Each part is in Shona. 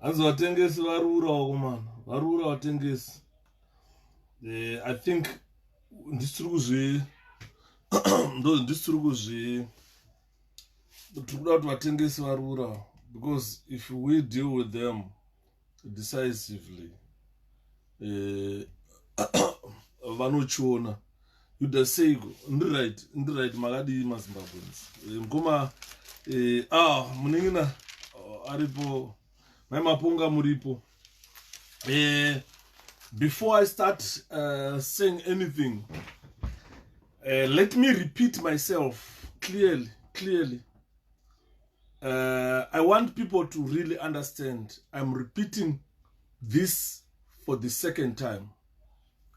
hanzi vatengesi varura vakomana varura vatengesi eh, i think ndisiri kuzvi ndo ndisiri kuzvi tiri kuda kuti vatengesi varura because if we deal with them decisively eh, vanochiona yuda seiko ndi right ndi right makadii mazimbabweans eh, mukoma eh, ah muningina oh, aripo mai mapunga muripo uh, before i start uh, saying anything uh, let me repeat myself clearly clearly uh, i want people to really understand i'm repeating this for the second time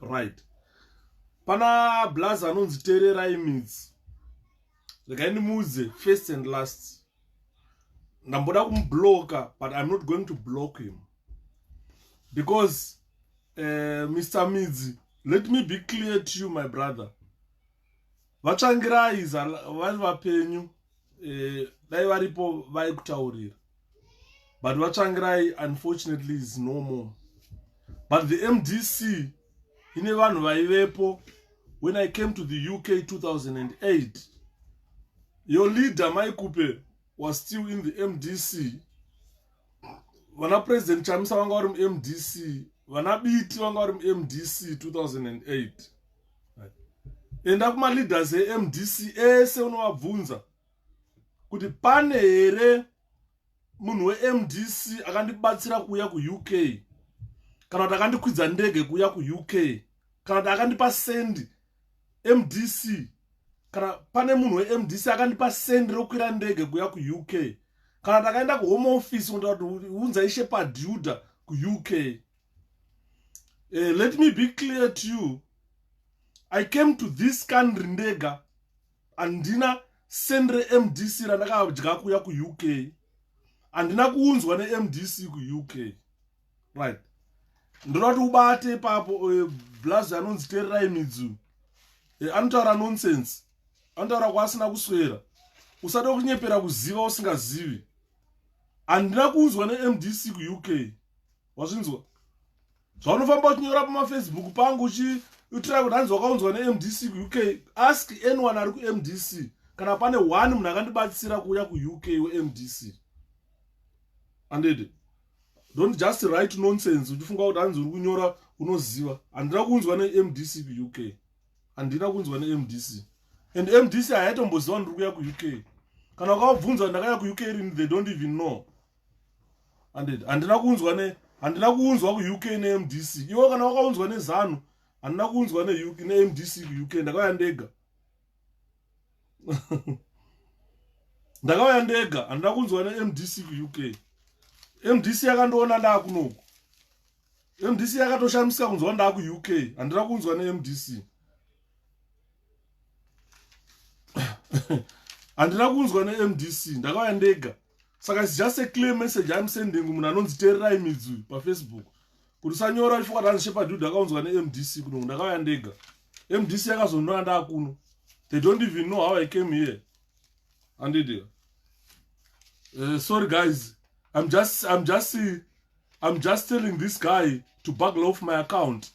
right pana blaza anonzi tererai midzi regai ndimuudze first and last ndamboda kumubloka but iam not going to block him because uh, eh, mr midzi let me be clear to you my brother vatsvangirai vari vapenyu eh, dai varipo vaikutaurira but vatsvangirai unfortunately is no more but the mdc ine vanhu vaivepo when i came to the uk 2008 your leader maikupe was still in the mdc vana president chamisa vanga vari mumdc vana biti vanga vari mumdc 2008 enda kumaleaders emdc ese unovabvunza kuti pane here munhu wemdc akandibatsira kuuya kuuk kana kuti akandikwidza ndege kuuya kuuk kana kuti akandipa sendi mdc kana pane munhu wemdc akandipa sendi rokwira ndege kuuya kuuk kana kuti akaenda kuhome office kunotaa kuti unza ishe paduda kuuk Uh, let me be clear to you. I came to this country ndega. handina send remdc randakadya kuya kuuk handina kuunzwa nemdc kuuk right ndoda kuti ubate ipapo eh, blazi anonzi tererai midzu eh, anotaura nonsense anotaura kwaasina kuswera usada kunyepera kuziva usingazivi handina kuunzwa nemdc kuuk wazvinzwa zvaunofamba uchinyora pamafacebook pangu uchiitira kuti hanzi wakaunzwa nemdc kuuk ask anyone ari kumdc kana pane one munhu akandibatsira kuuya kuuk wemdc andede don't just write nonsense uchifunga kuti hanzi uri kunyora unoziva handina kunzwa nemdc kuuk handina kunzwa nemdc and mdc haitomboziva ndiri kuya kuuk kana wakavabvunza ndakaya kuuk rini they don't even know handed handina kuunzwa ne handina kuunzwa kuuk nemdc iwo kana wakaunzwa nezanu handina kuunzwa nemdc kuuk ndakauya ndega ndakauya ndega handina kunzwa nemdc kuuk mdc yakandiona ndaakunoku mdc yakatoshamisika kunzwa ndaakuuk handina kunzwa nemdc handina kunzwa nemdc ndakauya ndega saka it's just a clear message im sending munhu anonzi tererai midzi uyu pafacebook kuti sanyora chifukwa tani shepadud akaunzwa nemdc kuno ndakauya ndega mdc yakazonora ndaakuno they don't even know how i came here andidia uh, eh, sorry guys i'm just i'm just i'm just telling this guy to bugle off my account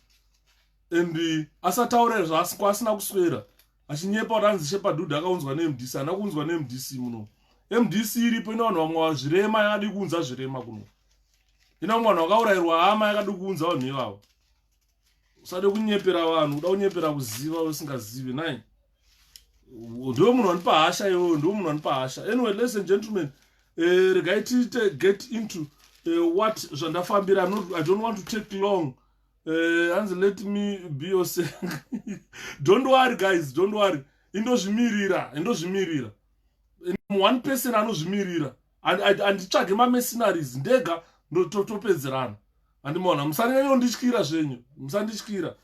and uh, asataure zvaasiko asina kuswera achinyepa kuti anzi shepadhudhu akaunzwa nemdc ana kuunzwa nemdc muno mdc iripo ina vanhu vamwe vazvirema yakadi kuunza zvirema kuno ina vamwe vanhu vakaurayirwa hama yakadi kuunza vanhu ivavo usade kunyepera vanhu uda kunyepera kuziva usingazivi nai ndiwe munhu wanipa hasha iwewe ndiwe munhu wanipa hasha anyway ladies and gentlemen uh, regai tiite get into uh, what zvandafambira i don't want to take long Eh, hanzi uh, let me be your don't worry guys don't worry indozvimirira indozvimirira one person anozvimirira anditsvage mamercenaries ndega topedzerana andimona musanyanya kundityira zvenyu musandityira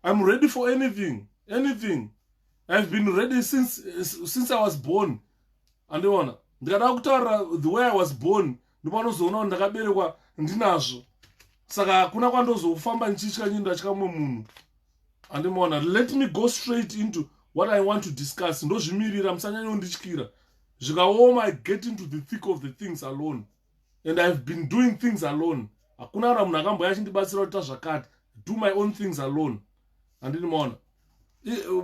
iam ready for anything anything ihave been ready since, since i was born andiona ndikada kutaura the way i was born ndopanozoona kuti ndakaberekwa ndinazvo saka hakuna kwandozofamba ndichitya nyini ndatya mumwe munhu andimaona let me go straight into what i want to discuss ndozvimirira musanyanya undityira zvikaoma i get into the thick of the things alone and ihave been doing things alone hakuna kana munhu akamboya achindibatsira kuti tazvakati do my own things alone handini maona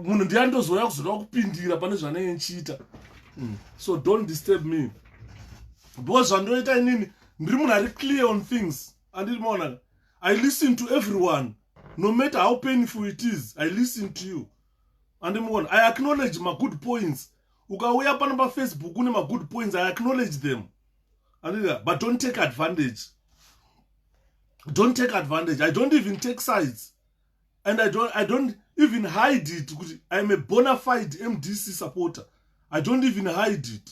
munhu ndiya ndozouya kuzoda kupindira pane zvanenge ndichiita mm. so don't disturb me because zvandoita inini ndiri munhu ari clear on things andiri maona i listen to everyone no matter how painful it is i listen to you andimuona i acknowledge magood points ukauya pano pafacebook une magood points i acknowledge them andiri but don't take advantage don't take advantage i don't even take sides and i don't, I don't even hide it kuti iam a bona fide mdc supporter i don't even hide it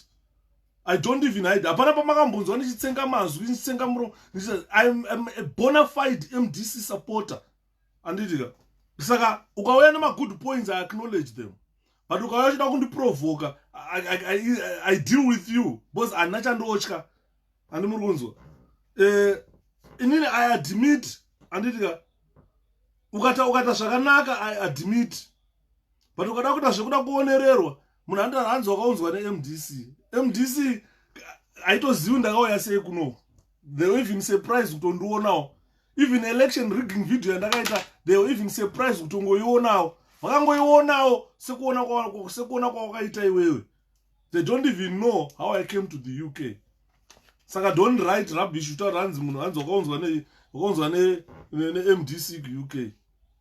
i don't even hide hapana pamakambonzwa ndichitsenga mazwi ndichitsenga muro iam a bona fide mdc supporter anditika saka ukauya nemagood points i acknowledge them but ukauya uchida kundiprovoka I, I, I, i deal with you because handina chandiotya handi muri kunzwa eh, inini i admit anditika ukata ukata zvakanaka i admit but ukada kuita zvekuda kuonererwa munhu andira hanzi wakaunzwa nemdc mdc haitozivi ndakauya sei kuno they were even surprise kutondionawo even election rigging video yandakaita they were even surprise kutongoionawo vakangoionawo sekuona kwawakaita iwewe they don't even know how i came to the uk saka don't write rubbish utaura hanzi munhu hanzi wakaunzwa wakaunzwa nemdc kuuk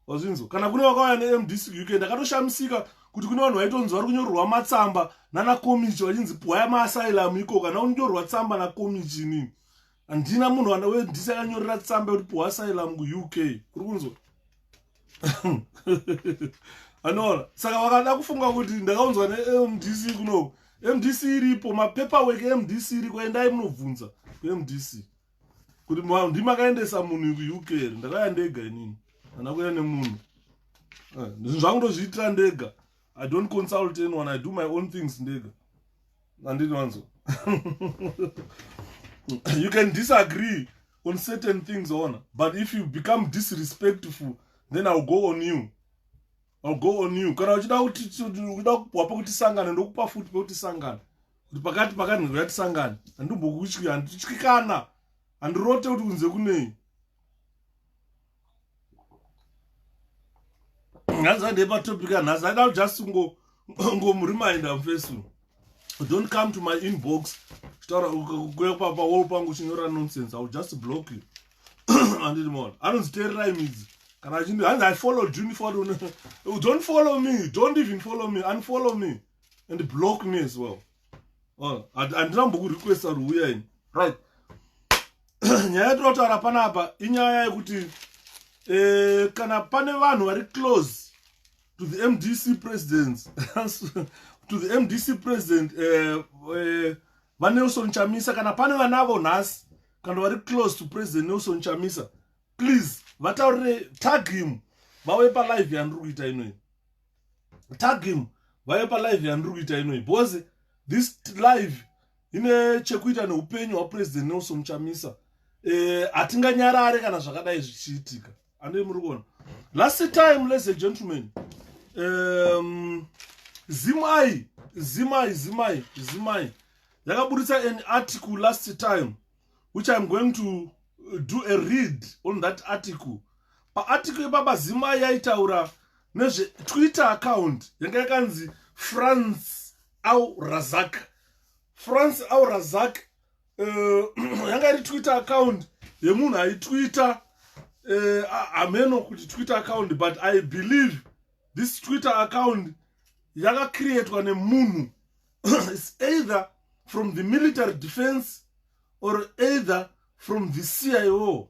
wazvinzwa kana kune vakauya nemdc kuuk ndakatoshamisika kuti kune vanhu vaitonzi vari kunyorerwa matsamba nanakomichi vachinzi pwaya maasylum iko kana unyorerwa tsamba nakomichi inini handina munhu wana we ndisi akanyorera tsamba yekuti puhwa asylum kuuk uri kunzwa anoona saka vakada kufunga kuti ndakaunzwa nemdc kuno mdc iripo mapeperwork emdc iriko endai munobvunza kumdc kuti ndimakaendesa munhu kuuk here ndakaya ndega inini hana kuya nemunhu eh, zvinhu zvangu ndozviitira ndega i don't consult anyone i do my own things ndega andinonzwa you can disagree on certain things ona but if you become disrespectful then ill go on you ill go on you kana uchida uchida kuwapa kuti sangane ndokupa futi pekuti sangane kuti pakati pakanhego yati sangane handimbokutyikana handirote kuti kunze kunei nhanzi andei patopic anhasi aida kujust ngomureminda mfesu don't come to my inbox chitaura kuya papa wall pangu chinyora nonsense iwill just block you anditi mona anonzi tererai midzi kana achindi hanzi i followed you follow don't follow me don't even follow me unfollow me and block me as well oh, handina mbokurequesta ruuya ini right nyaya yatinotaura panapa inyaya yekuti eh, kana pane vanhu vari close to the mdc president to the mdc president eh, eh, vanelson chamisa kana pane vanavo nhasi kana vari close to president nelson chamisa please vataurire tag him vauye palive yandiri kuita inoyi tag him vave palive yandiri kuita inoi because this live ine chekuita neupenyu hwapresident nelson muchamisa eh, hatinganyarare e, kana zvakadai zvichiitika andei muri kuona last time ladies and gentlemen um, zimai zimai zimai zimai yakaburitsa an article last time which iam going to do a read on that article paarticle ipapa zimai yaitaura nezvetwitter account yanga yakanzi france au razak france au razak uh, eh, yanga iri twitter account yemunhu aitwitter eh, hameno uh, kuti twitter account but i believe this twitter account yakacreatwa nemunhu is either from the military defense or either from the cio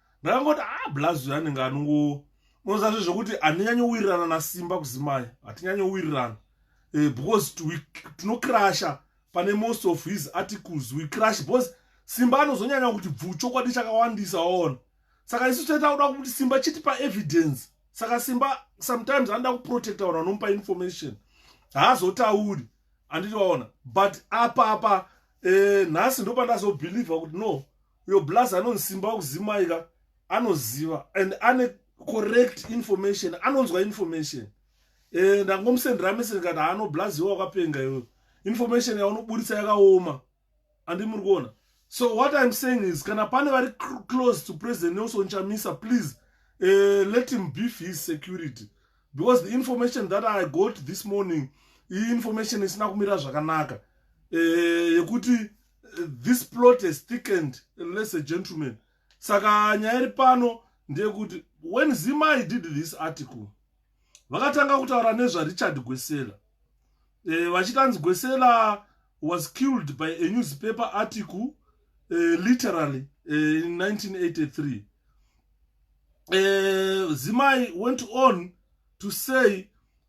ndakangoti a ah, blaz uyo anenge anongo unoziva zve zvekuti handinyanyowirirana nasimba kuzimai hatinyanyowirirana eh, because tinokrasha pane most of his articles we crash because simba anozonyanya kuti bvu chokwadi chakawandisa waona saka isu taita kuda kuti simba chitipa evidence saka simba sometimes anoda kuprotecta vanhu vanomupa information haazotauri anditi waona but apa apa eh, nhasi ndopandazobhilivha kuti no uyo blaz anonzi simba wekuzimai ka anoziva and ane correct information anonzwa information eh, ndangomusendera message kati haano blaz iwe wakapenga iwe information yaunoburitsa yakaoma andi muri kuona so what iam saying is kana pane vari close to president nelson chamisa please uh, let him beef his security because the information that i got this morning iyi information isina kumira zvakanaka eh, yekuti uh, this plot has thickened less a gentleman saka nyaya iri pano ndeyekuti when zimai did this article vakatanga kutaura nezvarichard gwesela e, vachiti anzi gwesela was killed by a newspaper article e, literally e, in 1983 e, zimai went on to say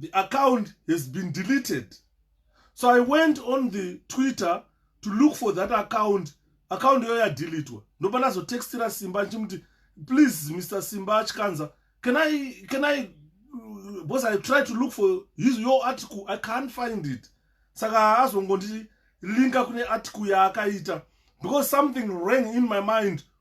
the account has been deleted so i went on the twitter to look for that account account iyoyo yadelitwa ndopa ndazotextira simba ndichimuti please mr simba achikanza can i can i because i try to look for his your article i can't find it saka azongondilinka kune article yaakaita because something rang in my mind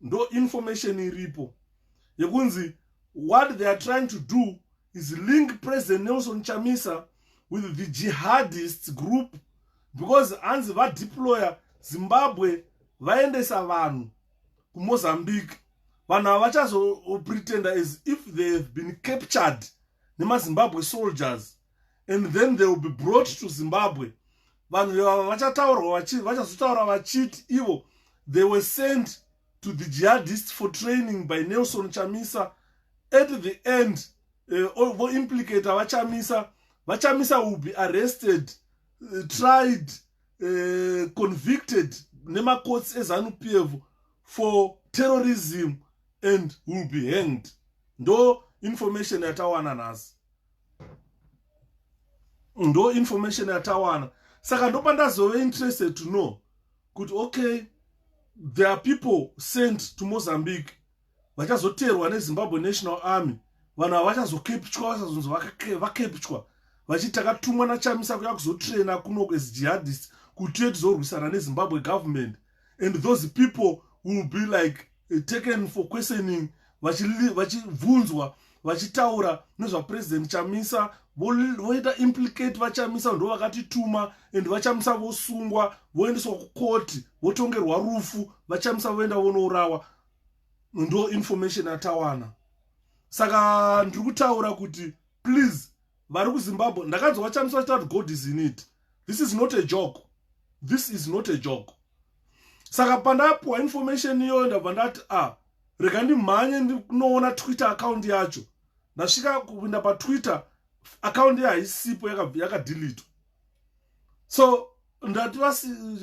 ndo information iripo yekunzi what they are trying to do is link president nelson chamisa with the jihadists group because hanzi vadeployer zimbabwe vaendesa vanhu kumozambique vanhu ava vachazopretenda as if they have been captured nemazimbabwe soldiers and then they will be brought to zimbabwe vanhu vevava vachataurwa vachazotaura vachiti ivo they were sent to the jihadist for training by nelson chamisa at the end eh, voimplicator uh, vachamisa vachamisa will be arrested uh, tried uh, convicted nemakotsi ezanu p f for terrorism and will be hanged ndo information yatawana nhasi ndo information yatawana saka ndopa ndazove interested to know kuti okay there are people sent to mozambique vachazoteerwa nezimbabwe national army vanhu ava vachazokepchwa vachazonzi vakepchwa vachiti takatumwa nachamisa kuya kuzotraina kuno as jihadist kutiye tizorwisana nezimbabwe government and those people will be like eh, taken for questioning vachibvunzwa vachitaura nezvapresident chamisa voita implicate vachamisa ndo vakatituma and vachamisa vosungwa voendeswa kukoti votongerwa rufu vachamisa voenda vonourawa ndo information atawana saka ndiri kutaura kuti please vari kuzimbabwe ndakanzwa vachamisa vachitaura kuti god is in it this is not a joke this is not a joke saka pandapuwa information iyoyo ndabva ndati a ah, rega ndimhanye ndinoona twitter account yacho ndasvika kupinda patwitter account ye haisipo yakadilitwa so ndati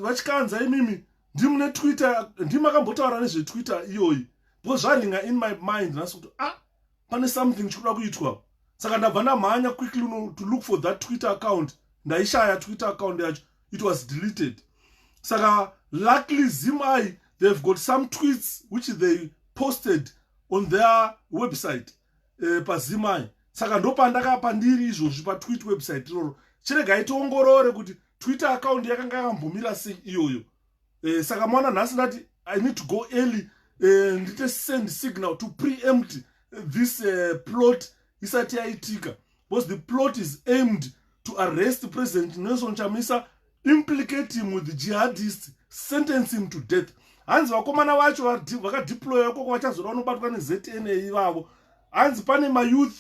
vachikanza imimi ndimune twitter ndimi akambotaura nezvetwitter iyoyi because zvaringa in my mind nhasi kuti a ah, pane something chikuda kuitwa saka ndabva ndamhanya quickly no, to look for that twitter account ndaishaya twitter account yacho it was deleted saka luckily zim i they've got some tweets which they posted on their website uh, pazim i saka ndopandakapa ndiri izvozvi patwit website iroro chiregai tiongorore kuti twitter account yakanga yakambomira sei iyoyo eh, saka mwana nhasi ndati i need to go early eh, ndite send signal to preempt this uh, plot isati yaitika because the plot is aimed to arrest president nelson chamisa implicate him with the jihadist sentence him to death hanzi vakomana vacho vakadeploya ikoko vachazoda vanobatwa nezna ivavo hanzi pane mayouth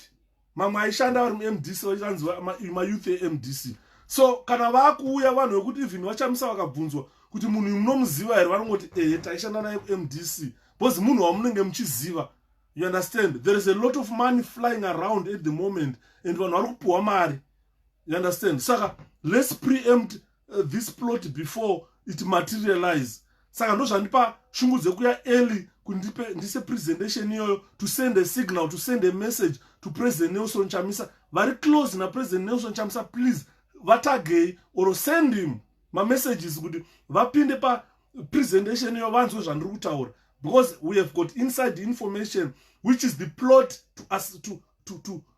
mamwe aishanda vari mumdc vachanzi mayouth emdc so kana vakuuya vanhu vekuti even vachamisa vakabvunzwa kuti munhu uyu munomuziva here vanongoti ehe taishanda naye kumdc because munhu wamunenge muchiziva you understand there is a lot of money flying around at the moment and vanhu vari kupiwa mari you understand saka let's preempt uh, this plot before it materialize saka ndozvandipa shungu dzekuya early kundipe ndise presentation iyoyo to send a signal to send a message to president nelson chamisa vari close napresident nelson chamisa please vatagei or send him mamessages kuti vapinde pa presentation iyo vanzwe zvandiri kutaura because we have got inside information which is the plot to, us, to, to, to,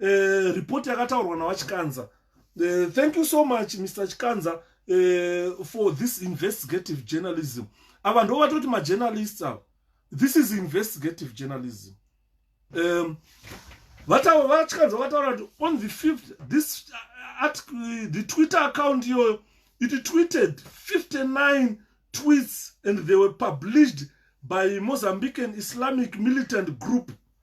eh, report yakataurwa navachikanza eh, thank you so much mr chikanza eh, for this investigative journalism ava ndo vatoti majournalists ava this is investigative journalism um, vachikanza vataura kuti on the fifth this uh, at, uh, the twitter account iyoyo it tweeted 59 tweets and they were published by mozambican islamic militant group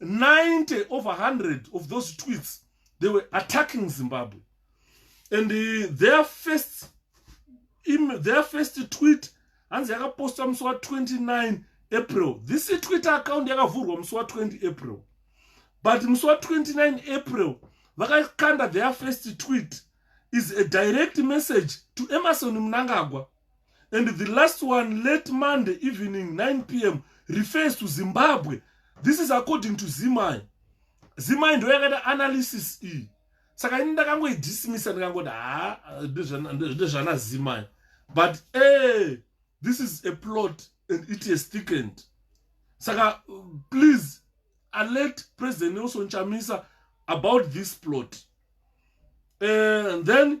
90 over 100 of those tweets they were attacking zimbabwe and uh, their first im, their first tweet hanzi yakapostwa musi wa29 april this twitter account yakavhurwa musi wa20 april but musi wa29 april vakakanda their first tweet is a direct message to emerson mnangagwa and the last one late monday evening 9 p m refers to zimbabwe this is according to zimai zimai ndo yakaita analysis iyi saka ini ndakangoidismisa ndikangoti ha ndezvana zimai but e this is a plot and it is thickened saka please alert president nelson chamisa about this plot eh, and then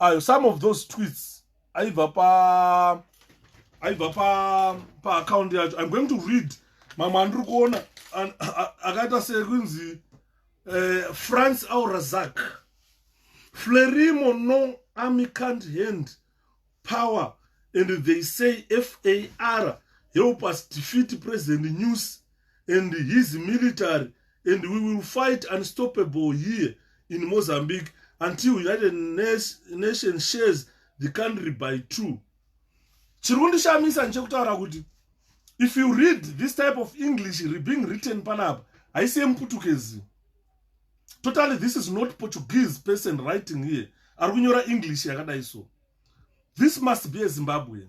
ayo some of those tweets aibva pa aibva pa paaccount yacho im going to read mamwe andiri kuona akaita sekunzi eh, france aurazak flerimo no amicant hand power and they say far help us defeat president news and his military and we will fight unstoppable here in mozambique until united nation shares the country by two chiri kundishamisa ndichekutaura kuti if you read this type of english being written panapa haisi yemuputukezi totally this is not portuguese person writing here ari kunyora english yakadai so this must be a zimbabwean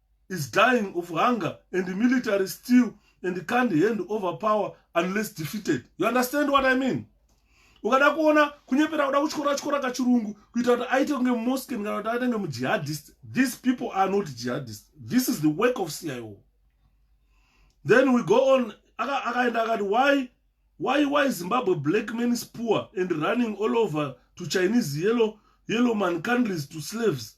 is dying of hunger and military still and can't hand over power unless defeated you understand what i mean ukada kuona kunyepera kuda kutyora tyora kachirungu kuita kuti aite kunge mosken kana kuti aite kunge mujihadist these people are not jihadist this is the work of cio then we go on akaenda akati why why why zimbabwe black man is poor and running all over to chinese yellow yellow man countries to slaves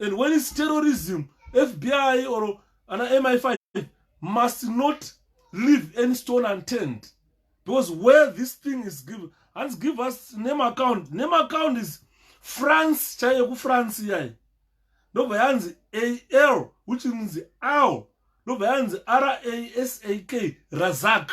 and when it's terrorism fbi or ana mi5 must not leave any stone unturned because where this thing is given hanzi give us name account name account is france chaiyo kufrance iyayi ndobva yanzi al which means al ndobva yanzi rasak razak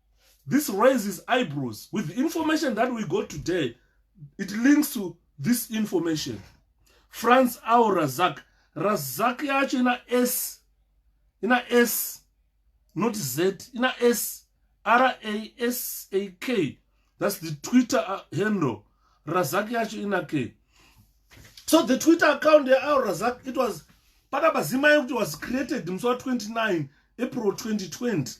this raises eyebrows with the information that we got today it links to this information france au razak razak yacho ina s ina s not z ina s rasak that's the twitter uh, handle razak yacho ina k so the twitter account yaau razak it was pakabazimai kuti was created musi wa 29 april 2020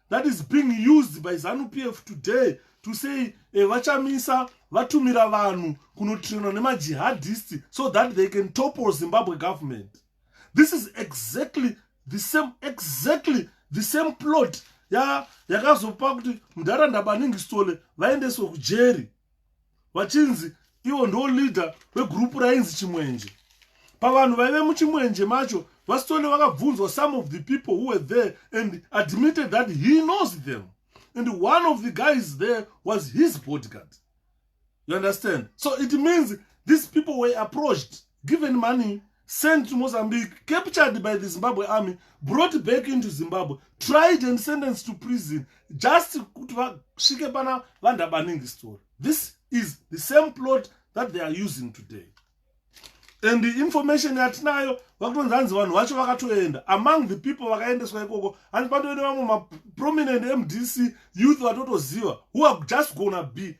that is being used by zanu pf today to say eh, vachamisa vatumira vanhu kunotrainwa nemajihadist so that they can topple zimbabwe government this is exactly the same exactly the same plot yakazopa kuti mudhara ndabaningi stole vaendeswe kujeri vachinzi ivo ndo leader vegroup rainzi chimwenje pavanhu vaive muchimwenje macho vastole vakabvunzwa some of the people who were there and admitted that he knows them and one of the guys there was his bodyguard you understand so it means these people were approached given money sent to mozambique captured by the zimbabwe army brought back into zimbabwe tried and sentenced to prison just kuti vasvike pana vandabaningi story this is the same plot that they are using today and the information yatinayo vakutonzi hanzi vanhu vacho vakatoenda among the people vakaendeswa ikoko hanzi patoende vamwe maprominent mdc youth vatotoziva who are just gona be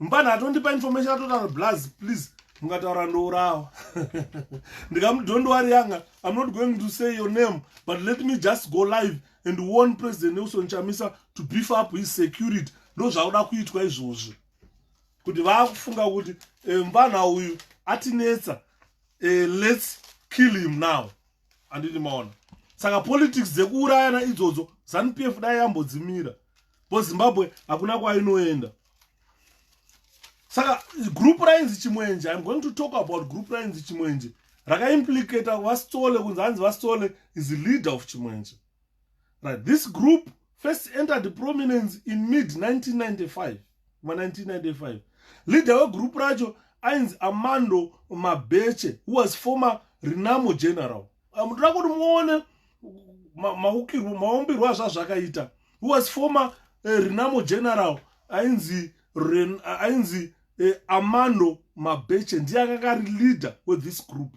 mupana atondipa information atotaura blaz please mukataura ndourawa ndikamuti don't worry yanga i'm not going to say your name but let me just go live and warn president nelson chamisa to beef up his security ndozvakuda kuitwa izvozvi kuti vaakufunga kuti eh, mupana uyu atinetsa eh, let's kill him now anditi maona saka politics dzekuurayana idzodzo zanu pf dai yambodzimira bo zimbabwe hakuna kwainoenda saka group rainzi chimwenje im going to talk about group rainzi chimwenje rakaimplicata vasitole kunzi hanzi vasitole is leader of chimwenje Right. This group first entered prominence in mid 1995 ma 1995 leader wegroup racho ainzi amando mabeche who was former renamo general ah, mutoda kuti muone maukirwo maumbirwo azvazvakaita who was former eh, renamo general ainzi ren, ainzi eh, amando mabeche ndiye akanga ari leader wethis group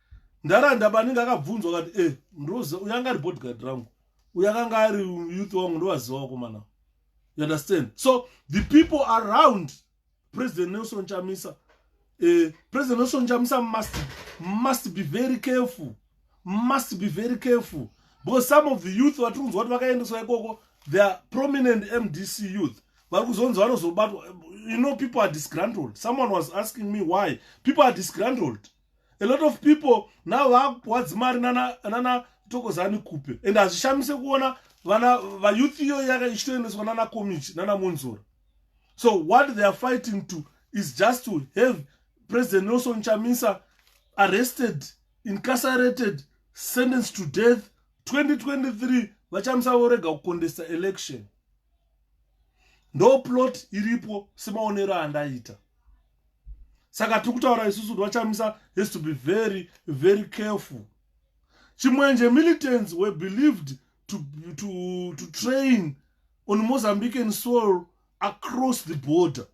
Ndaranda baningi akabvunzwa kati e eh, ndoza uyo anga ari bodyguard rangu uyo akanga ari youth wangu ndovaziva wakomana you understand so the people around president nelson chamisa uh, president nelson chamisa must, must be very careful must be very careful because some of the youth vatiri kunzwa kuti vakaendeswa ikoko the are prominent mdc youth vari kuzonzi vanozobatwa you know people are disgruntled someone was asking me why people are disgruntled a lot of people now vakupuwa dzimari nana, nana tokozani kupe and hazvishamise kuona vana vayouth iyo yaka ichitoendeswa nana community nana monzora so what they are fighting to is just to have president nelson chamisa arrested incarcerated sentenced to death 2023 vachamisa vorega kukondesa election ndo plot iripo semaonero andaita saka tiri kutaura isusu kuti vachamisa has to be very very careful chimwenje militants were believed to, to, to train on mozambican soil across the border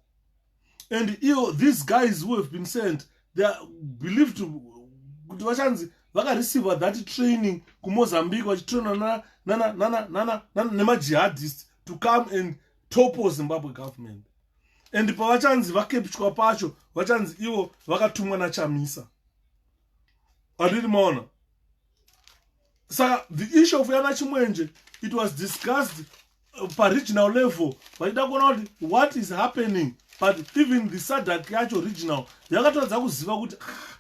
and io these guys who have been sent they are believed to kuti vachanzi vakareceiva that training kumozambique vachitraina nemajihadist to come and topple zimbabwe government and pavachanzi vakepchwa pacho vachanzi ivo vakatumwa nachamisa andiri maona saka the issue of yana chimwenje it was discussed uh, paregional level vachida kuona kuti what is happening but even the sadak yacho regional yakatadza kuziva kuti ah,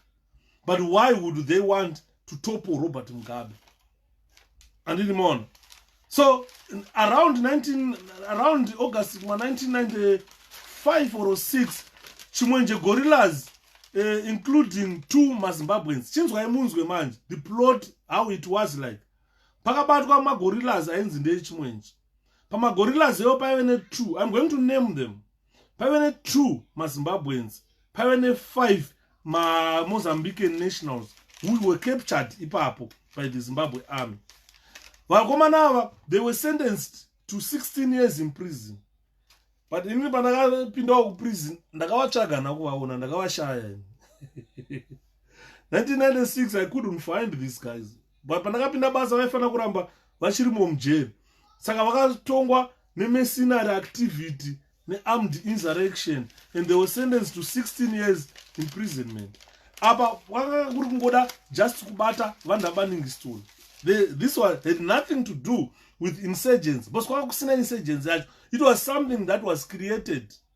but why would they want to topple robert mugabe andini maona so around 19 around august ma 1995 or 6 chimwenje gorillas uh, including two mazimbabweans chinzwai munzwe manje the plot how it was like pakabatwa magorillas ainzi ndechimwenje pamagorillas ewo paive ne two im going to name them paive ne2 mazimbabweans paive ne5 mamozambican nationals who were captured ipapo by the zimbabwe army vakomana ava they were sentenced to 16 years in prison but inini pandakapindawo kuprison ndakavatsvaga nakuvaona ndakavashaya 1996 i couldn't find these guys but pandakapinda basa vaifanira kuramba vachirimo mujeri saka vakatongwa nemesinary activity nearmed insurrection and they were sentenced to 16 years imprisonment apa kwakanga kuri kungoda just kubata vanhu vabaningiston this one had nothing to do with insurgence bcause kwanga kusina insurgence yacho it was something that was created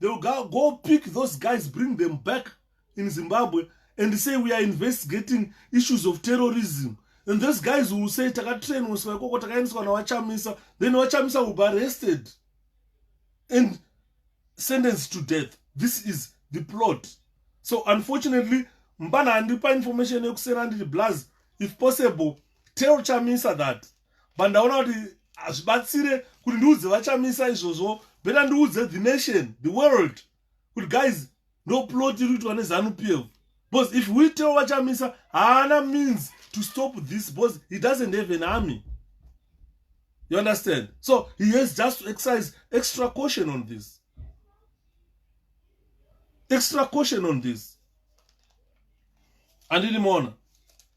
they will go, go pick those guys bring them back in zimbabwe and say we are investigating issues of terrorism and those guys will say takatrainiswa ikoko takaendeswa navachamisa then vachamisa will be arrested and sentenced to death this is the plot so unfortunately mbana handipa information yekusera ndiri blaz if possible tell chamisa that but ndaona kuti hazvibatsire kuti ndiudze vachamisa izvozvo beta ndiudze the nation the world kuti guys no plot iri kuitwa nezanu p f because if we tell vachamisa haana means to stop this because he doesn't have an army you understand so he has just to exercise extra caution on this extra caution on this andinimona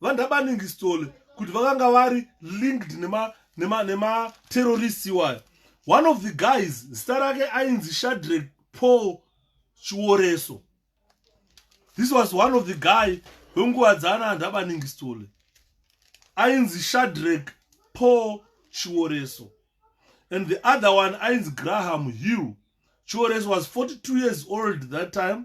vandabaningistole kuti vakanga vari linked nematerrorist nema, nema iwayo one of the guys zita rake ainzi shadrek paul chioreso this was one of the guy wenguva dzaana andabaningistole ainzi shadrek paul chioreso and the other one ainzi graham hill chioreso was 42 years old that time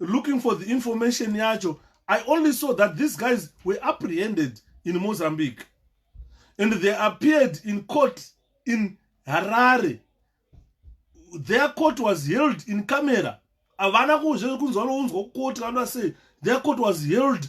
looking for the information yacho i only saw that these guys were apprehended in mozambique and they appeared in court in harare their court was held in camera havana kuzve kunzwa nounzwa kukoti vanoda sei their court was held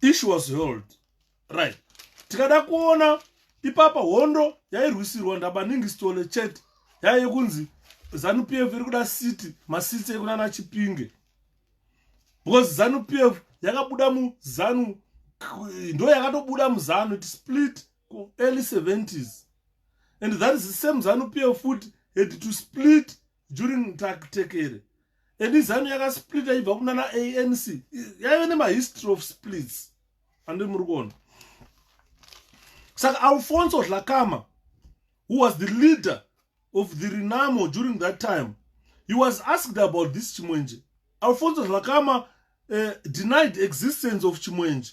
issue was held right tikada kuona ipapa hondo yairwisirwa ndabaningi stole chete yaiye kunzi zanu p f iri kuda city masitsi ekunana chipinge because zanu p f yakabuda muzanu ndo yakatobuda muzanu it split early 70s and that is the same zanu p f futi had to split during taktekere and izanu yakasplita ibva kunana anc yaive nemahistory of splits andiri muri kuona saka alfonso zlakama who was the leader of the renamo during that time he was asked about this chimwenje alfonso zlakama uh, denied existence of chimwenje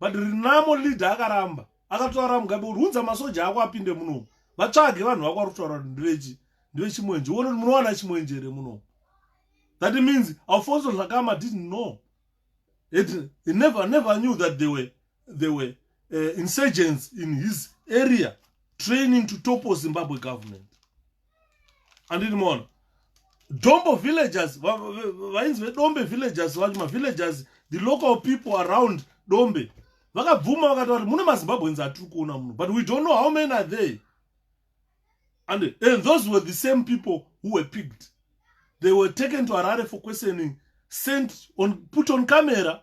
but rinamo leader akaramba akataura mugabe kuti unza masoja ako apinde munomu vatsvage vanhu vako vari kutaura kuti ndivechi ndivechimwenje uone kuti munowana chimwenje here munomu that means alfonso zvakama didn't know it, he never, never knew that they were, they were uh, insurgents in his area training to topple zimbabwe government andini mona dombo villagers vainzi vedombe villagers vacho mavillagers the local people around dombe vakabvuma vakataura kuti mune mazimbabweans atiri kuona muno but we don't know how many are there and, and those were the same people who were picked they were taken to arare for questioning sent on put on camera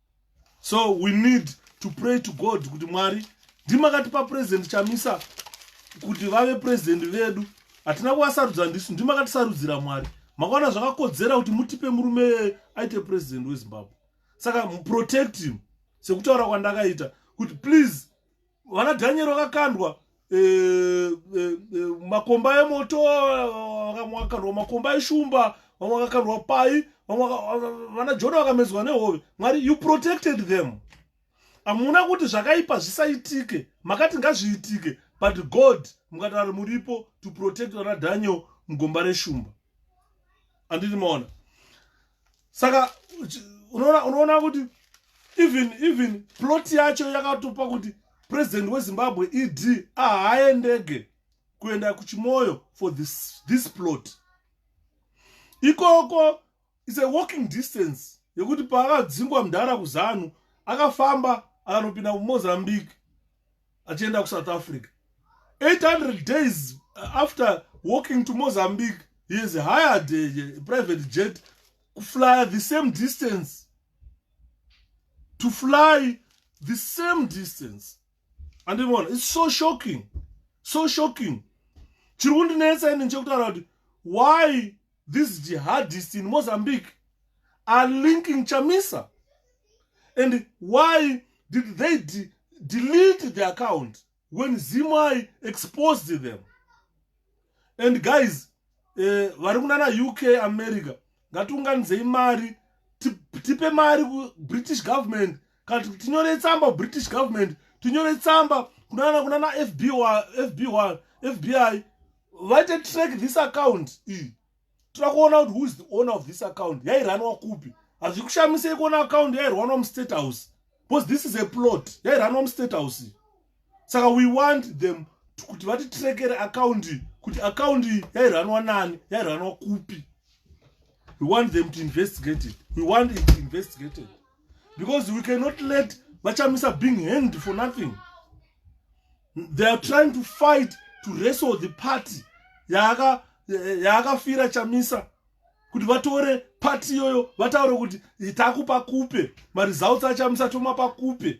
so we need to pray to god kuti mwari ndimakatipa president chamisa kuti vave president vedu hatina kuvasarudza ndisu ndimakatisarudza mwari makaona zvakakodzera kuti mutipe murume aite president wezimbabwe saka protect him sekutaura kwandakaita kuti please vana dhanyeri vakakandwa e, e, e, makomba emoto vamwe vakakandwa makomba eshumba vamwe vakakandwa pai vamwe vana jona vakamedzwa nehove mwari you protected them hamuna kuti zvakaipa zvisaitike makati ngazviitike but god mukatari muripo to protect vana daniel mugomba reshumba anditi maona saka unoona unoona kuti even even plot yacho yakatopa kuti president wezimbabwe ed ahaendege kuenda kuchimoyo for this, this plot ikoko is a walking distance yekuti paakadzingwa mdhara kuzanu akafamba akanopinda kumozambique achienda kusouth africa 800 days uh, after walking to mozambique he has hired a, a private jet kuflya the same distance to fly the same distance andivona its so shocking so shocking chiri kundinetsa ini nechekutaura kuti why These jihadists in Mozambique are linking Chamisa. And why did they de delete the account when Zimai exposed them? And guys, eh, vari kunana UK America ngatiunganidzei mari tipe mari kubritish government kana tikuti tinyore tsamba british government tinyore tsamba kunana kunana fby fby fbi vaite track this account iyi toda kuona kuti whois the owner of this account yairanwa kupi hazvi kushamisei kuona account yairwanwa mustate house because this is a plot yairanwa mustate house iyi saka we want them kuti vatitrekere akaundi kuti akaundi yairanwa nani yairanwa kupi we want them to investigate it we want it investigated because we cannot let vachamisa being hanged for nothing they are trying to fight to wrestle the party yaakafira chamisa kuti vatore party iyoyo vataure kuti takupa kupe maresults achamisa tomapa kupe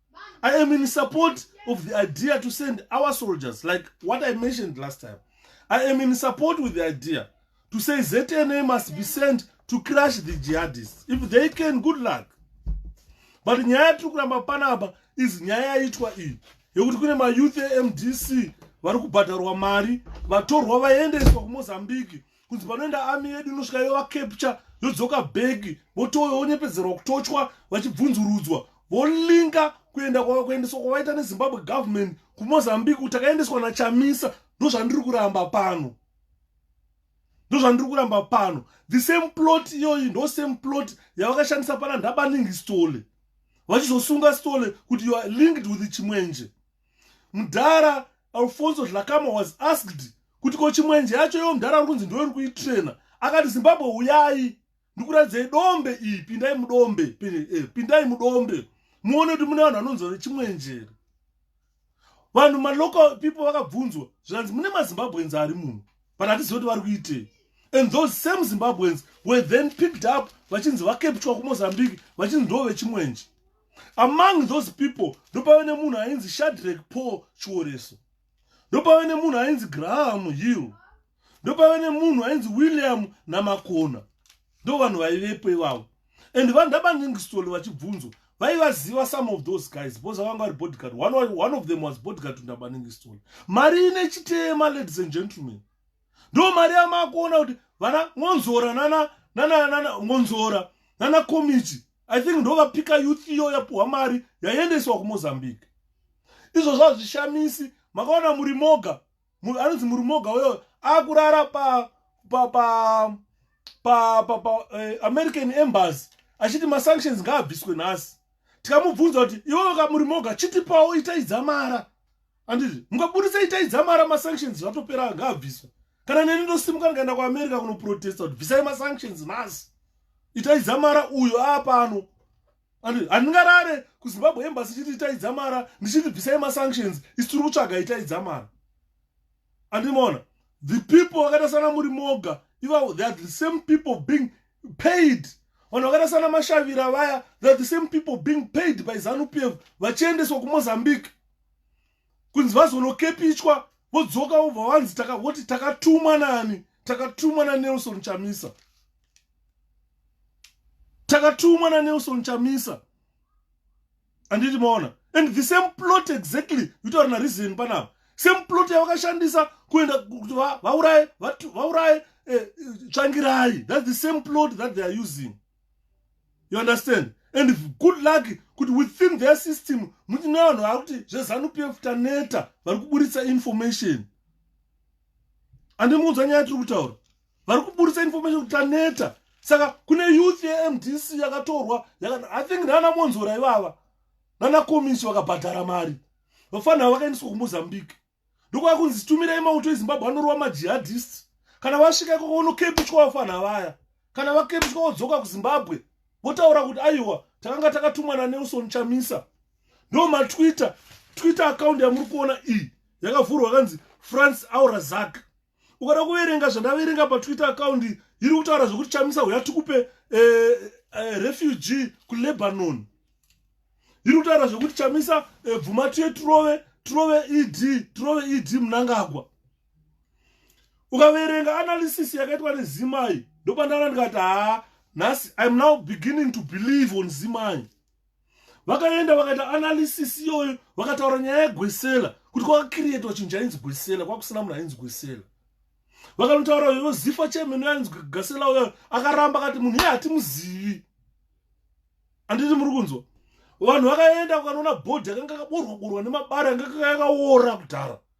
I am in support of the idea to send our soldiers, like what I mentioned last time. I am in support with the idea to say ZNA must be sent to crash the jihadists. If they can, good luck. But nyaya tiri kuramba panapa is nyaya yaitwa iyi yekuti kune mayouth emdc vari kubhadharwa mari vatorwa vaendeswa kumozambique kunzi panoenda ami yedu inosvika yovakepcha yodzoka bhegi votoyo vonyepedzerwa kutochwa vachibvunzurudzwa volinga kuenda kuendeswa kwavaita nezimbabwe government kumozambique kuti akaendeswa nachamisa ndozvandiri kuramba pano ndozvandiri kuramba pano the same plot iyoyi ndo same plot yavakashandisa pana ndabaningi stole vachizosunga stole kuti youare linked with chimwenje mudhara alfonso zhlakama was asked kuti ko chimwenje yacho yo mudhara uri kunzi ndo iri kuitrena akati zimbabwe uyai ndikuratidzai dombe iyi pindai mudombe eh, pindai mudombe muone kuti mune vanhu vanonzwa nechimwenjere vanhu malocal people vakabvunzwa zvikanzi mune mazimbabweans ari muno but hatizivi kuti vari kuitei and those same zimbabweans were then picked up vachinzi vakeptwa kumozambique vachinzi ndo vechimwenje among those people ndopave nemunhu ainzi shadrek paul chioreso ndopave nemunhu ainzi graham hill ndopave nemunhu ainzi william namakona ndo vanhu vaivepo ivavo and vanhu ndabangingisitoli vachibvunzo vaivaziva some of those guys because avanga vari bodyguard one, one of them was bodyguard to ndabaningistoli mari ine chitema ladies and gentlemen ndo mari yamakuona kuti vana ngonzora nana nana nana ngonzora nana komiti i think ndo vapika youth iyo yapuhwa mari yaiendeswa kumozambique izvo zvazvishamisi makaona muri moga anonzi muri moga uyo akurara pa pa pa pa pa, pa eh, american embassy achiti masanctions ngaabviswe nhasi tikamubvunza kuti iwewe kamuri moga chitipawo itaidzamara anditi mukabudisa itai dzamara masanctions zvatopera ngaabviswa kana neni ndosimuka ndikaenda kuamerica kunoprotesta kuti bvisai masanctions nhasi itai dzamara uyo aapano anditi handingarare kuzimbabwe embasi chiti itai dzamara ndichiti bvisai masanctions isi tiri kutsvaga itai dzamara andimona the people vakaita sana muri moga ivavo they are the same people being paid vanhu vakaita sana mashavira vaya they are the same people being paid by zanupf vachiendeswa kumozambique kunzi vazonokepichwa vodzoka vobva vanzi takavoti takatumwa nani takatumwa nanelson chamisa takatumwa nanelson chamisa anditi maona and the same plot exactly yitaura nareason panapa same plot yavakashandisa kuenda kuti vauraye vauraye eh, tsvangirai thats the same plot that they are using you understand and good luck kuti within their system muti nevanhu vava kuti zvezanup f taneta vari kuburitsa information andimuudza nyaya tiri kutaura vari kuburitsa information kuti taneta saka kune youth yemdc yakatorwa i think nana monzora ivava nana komisi vakabhadhara mari vafanira vakaendiswa kumozambique ndokwakunzi zitumirei mauto ezimbabwe anorova majihadist kana vasvika ikoko unokepishwa vafana vaya kana vakepishwa vodzoka kuzimbabwe votaura kuti aiwa takanga takatumwa nanelson chamisa ndo matwitter twitter account yamuri kuona iyi yakavhurwa kanzi france aurazak ukada kuverenga zvandaverenga patwitter account iri kutaura zvekuti chamisa huya tikupe eh, eh, refugee kulebanon iri kutaura zvekuti chamisa eh, bvuma tuye turove turove ed turove ed munangagwa ukaverenga analysis yakaitwa nezimai ndopandana ndikati haa nhasi iam now beginning to believe on zimai vakaenda vakaita analysis iyoyo vakataura nyaya yegwesela kuti kwakakirietwa chinhu chainzi gwesela kwakusina munhu ainzi gwesela vakanotaura ivo zifa chemene yainzi gasela uyo akaramba akati munhu iye hatimuzivi handiti muri kunzwa vanhu vakaenda vakanoona bhodhi yakanga kaborwa borwa nemabari yanga kayakaora kudhara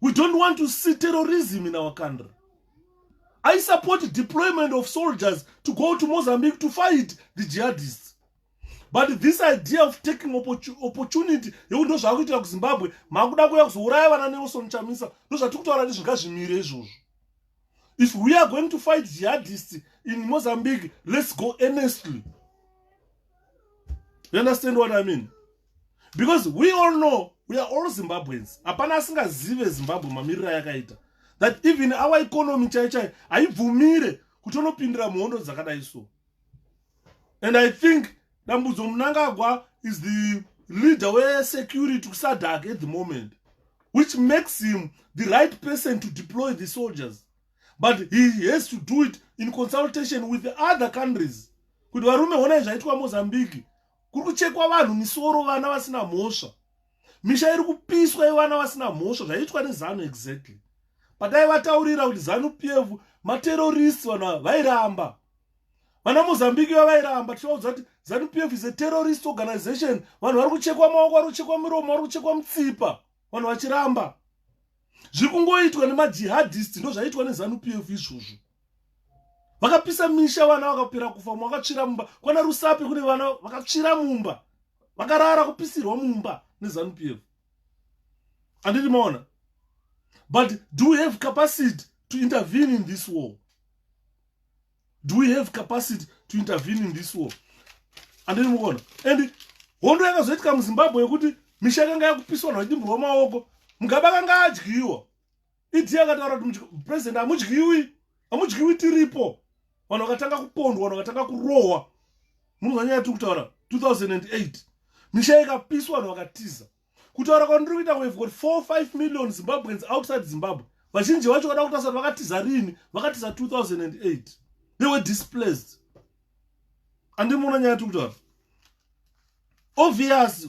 We don't want to see terrorism in our country. I support deployment of soldiers to go to Mozambique to fight the jihadists. But this idea of taking opportunity yekuti ndozvava kuitira kuzimbabwe makuda kuya kuzouraya vana nelson chamisa ndozvatiri kutaura kuti zvinga zvimire izvozvo if we are going to fight jihadists in mozambique let's go earnestly you understand what i mean because we all know we are all zimbabweans hapana asingazive zimbabwe mamiriro ayakaita that even our economy chai chai haibvumire kuti onopindira muhondo dzakadai so and i think dambudzo munangagwa is the leader wesecurity kusadak at the moment which makes him the right person to deploy the soldiers but he has to do it in consultation with the other countries kuti varume honai zvaitwa mozambique kuri kuchekwa vanhu misoro vana vasina mhosva misha iri kupiswa yevana vasina mhosva zvaiitwa nezanu exactly pataivataurira kuti zanu p f materoristi vanhu ava vairamba vana mozambique vavairamba tichivaudza kuti zanu p f is a terrorist organization vanhu vari kuchekwa maoko vari kuchekwa miromo vari kuchekwa mutsipa vanhu vachiramba zviri kungoitwa nemajihadist ndozvaiitwa nezanu p f izvozvo vakapisa misha vana vakapera kufa mumwe akatsvira mumba kwana rusape kune vana vakatsvira mumba vakarara kupisirwa mumba nezanup f andiri maona but do we have capacity to intervene in this war do we have capacity to intervene in this war andiri mukuona and hondo yakazoitika muzimbabwe yekuti misha yakanga yakupiswa navadimburwa maoko mugabe akanga adyiwa idi yakataura kuti president hamudyiwi hamudyiwi tiripo vanhu vakatanga kupondwa vanhu vakatanga kurohwa munonzwa nyaya tiri kutaura 2008 misha ikapiswa vanhu vakatiza kutaura kwandiri kuita we've got 45 million zimbabweans outside zimbabwe vazhinji vacho kada kutasa kuti vakatiza rini vakatiza 2008 they were displaced andimuona nyaya tiri kutaura obvious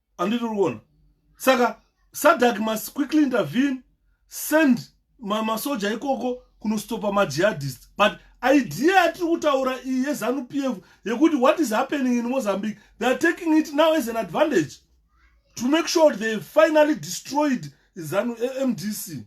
anditi uri kuona saka sadak must quickly intervene send masoja ma ikoko kunostopa majihadist but idea yatiri kutaura iyi yezanu p f yekuti what is happening in mozambique they are taking it now as an advantage to make sure they finally destroyed zanu eh, mdc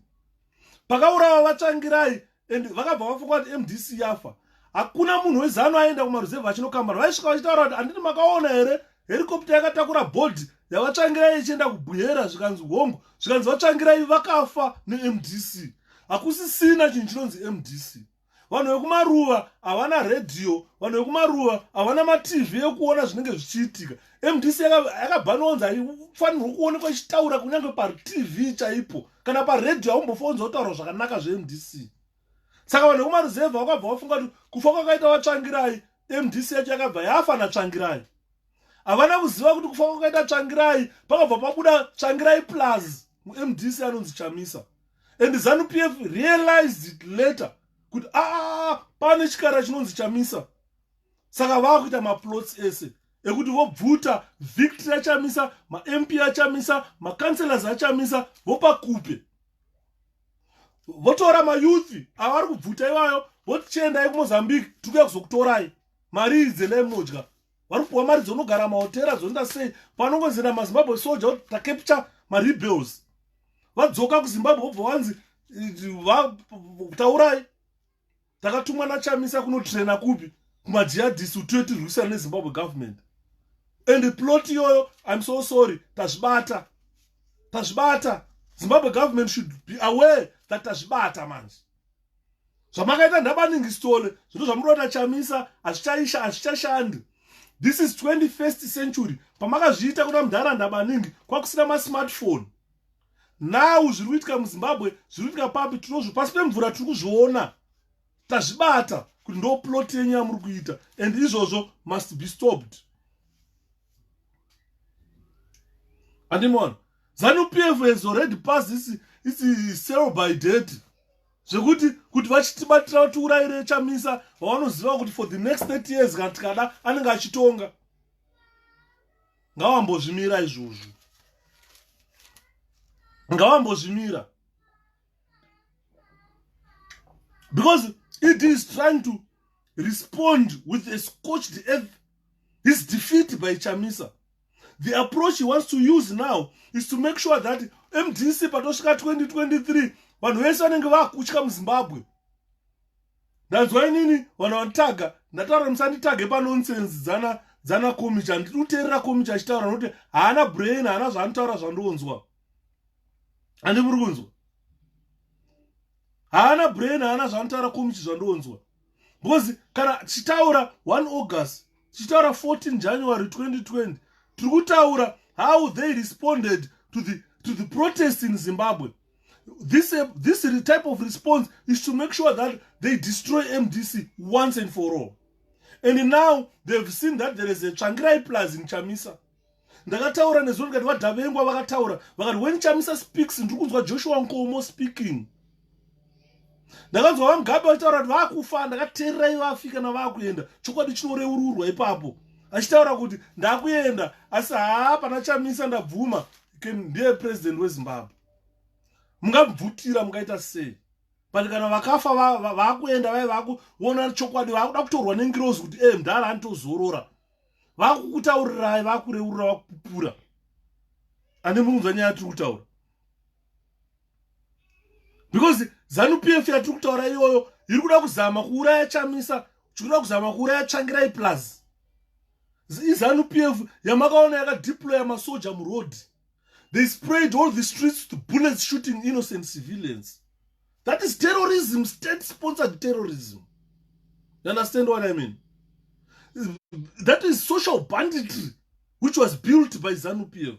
pakaurawa vatsvangirai and vakabva vafunga kuti mdc yafa hakuna munhu wezanu aenda kumaruzevha achinokambana vaisvika vachitaura kuti handiti makaona here herikopta yakatakura bhodhi yavatsvangirai ichienda kubwera zvikanzi hongu zvikanzi vatsvangirai vakafa nemdc hakusisina chinhu chinonzi mdc vanhu vekumaruva havana redhiyo vanhu vekumaruva havana matv ekuona zvinenge zvichiitika mdc yakabhanwa onzi haifanirwa kuonekwa ichitaura kunyange patv chaipo kana paredhiyo haumbofa onzi otaurwa zvakanaka zvemdc saka vanhu vekumaruzevha vakabva vafunga kuti kufa kwakaita vatsvangirai mdc yacho yakabva yafa natsvangirai havana kuziva kuti kufa kwakaita tsvangirai pakabva pabuda tsvangirai plus mdc anonzi chamisa and zanu p f realized it later kuti aa ah, ah, ah, pane chikara chinonzi chamisa saka vava kuita maplots ese ekuti vobvuta victory achamisa mamp achamisa macancelors achamisa vopa kupe votora mayouth ava vari kubvuta iwayo voti chiendai kumozambique tiri kuya kuzokutorai mari idzi endai munodya vari kupiwa mari dzonogara mahotera zvoenda sei panongonzira mazimbabwe soja kuti takepture marebels vadzoka kuzimbabwe vobva vanzi eh, taurai takatumwa nachamisa kunotraina kupi kumajihadist kuti tiyo tirwisana nezimbabwe government and plot iyoyo im so sorry tazvibata tazvibata zimbabwe government should be aware that tazvibata manje zvamakaita ndabaningi stole zvino zvamuri kuita chamisa hazvichaisha hazvichashandi this is 21st century pamakazviita kuna mudhara ndabaningi kwakusina masmartphone now zviri kuitika muzimbabwe zviri kuitika papi tinozvo pasi pemvura tiri kuzviona tazvibata kuti ndo plot yenyu yamuri kuita and izvozvo must be stopped andimona zanu p f has already pass isi isi sell by date zvekuti kuti vachitibatira vatiurayire chamisa vavanoziva kuti for the next 30 years kana tikada anenge achitonga ngawambozvimira izvozvo ngawambozvimira because it is trying to respond with a scorched earth his defeat by chamisa the approach he wants to use now is to make sure that mdc patosvika 2023 vanhu vese vanenge vakutya muzimbabwe ndanzwa inini vanhu vanditaga ndataura musanditage panonsense dzana dzana komicha handidi kuteerera komicha achitaura nokuti haana brain haana zvaanotaura zvandionzwa handi muri kunzwa haana brain haana zvanotaura komichi zvandionzwa because kana tichitaura 1 august tichitaura 14 january 2020 tiri kutaura how they responded to the, to the protest in zimbabwe this uh, this type of response is to make sure that they destroy mdc once and for all and now they've seen that there is a tsvangirai plus in chamisa ndakataura nezuva ndikati vadhavengwa vakataura vakati when chamisa speaks ndiri kunzwa joshua nkomo speaking ndakanzwa vamugabe vachitaura kuti vakufa ndakateererai vafika navakuenda chokwadi chinoreururwa ipapo achitaura kuti ndakuenda asi haa pana chamisa ndabvuma ndiye president wezimbabwe mungabvutira mungaita sei but kana vakafa vakuenda vaye vakuona chokwadi vakuda kutorwa nengirozi kuti e mdhara anitozorora vakukutaurirai vakureurura vakupupura ane muunza nyaya tiri kutaura because zanu p f yatiri kutaura iyoyo iri kuda kuzama kuuraya chamisa chikuda kuzama kuuraya tsvangirai plus izanu p f yamakaona yakadeploya masoja muroad they sprayed all the streets with bullets shooting innocent civilians that is terrorism state sponsored terrorism you understand what i mean that is social banditry which was built by zanu p f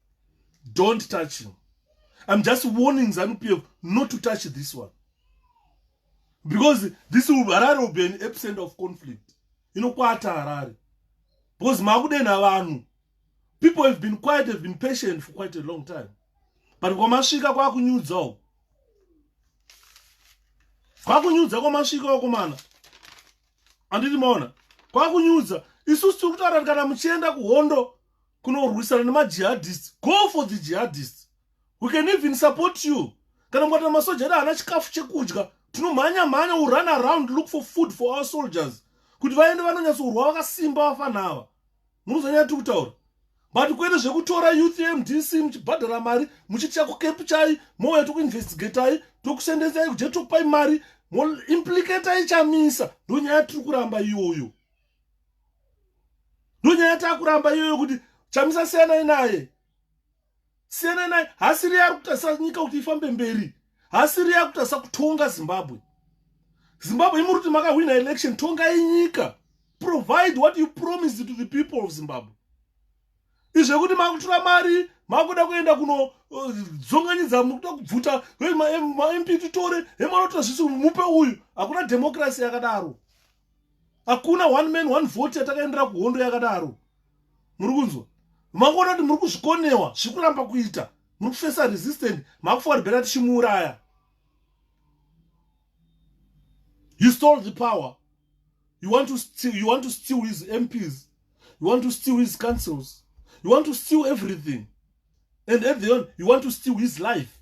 don't touch him i'm just warning zanu pf not to touch this one because this will harare will be an absent of conflict inokwata harare because makudenha vanhu people have been quiet have been patient for quite a long time but kwamasvika kwakunyudza uko kwakunyudza kwamasvika uko mana anditi maona kwakunyudza isusu tiri kutaura kuti kana muchienda kuhondo kunorwisana nemajihadist go for the jihadist we can even support you kana mukati masoja edu haana chikafu chekudya tinomhanya mhanya u run around look for food for our soldiers kuti vaende vanonyatsourwa vakasimba vafana ava munozonyaya tiri kutaura but kwete zvekutora youth mdc muchibhadhara mari muchitya kukepu chai mouya tokuinvestigatai tokusendesai kujetopai mari moimplicatai chamisa ndonyaya tiri kuramba iyoyo ndonyaya takuramba iyoyo kuti chamisa siyanai naye siyanai naye hasiri yari kutarisa nyika kuti ifambe mberi hasiri yari kutarisa kutonga zimbabwe zimbabwe imuri kuti makahwina election tongai nyika provide what you promised to the people of zimbabwe izvekuti makutora mari makuda kuenda kunodzonganyidza uh, mukuda kubvuta mamp titore hemanotora zvisi mupe uyu hakuna dhemokirasi yakadaro hakuna one man one vote yatakaendera kuhondo yakadaro muri kunzwa mangoona kuti muri kuzvikonewa zviri kuramba kuita muri kufesa resistant makufa uri bhera tichimuuraya you stole the power you want to steal, you want to steal his mps you want to steal his councils you want to steal everything and at the end you want to steal his life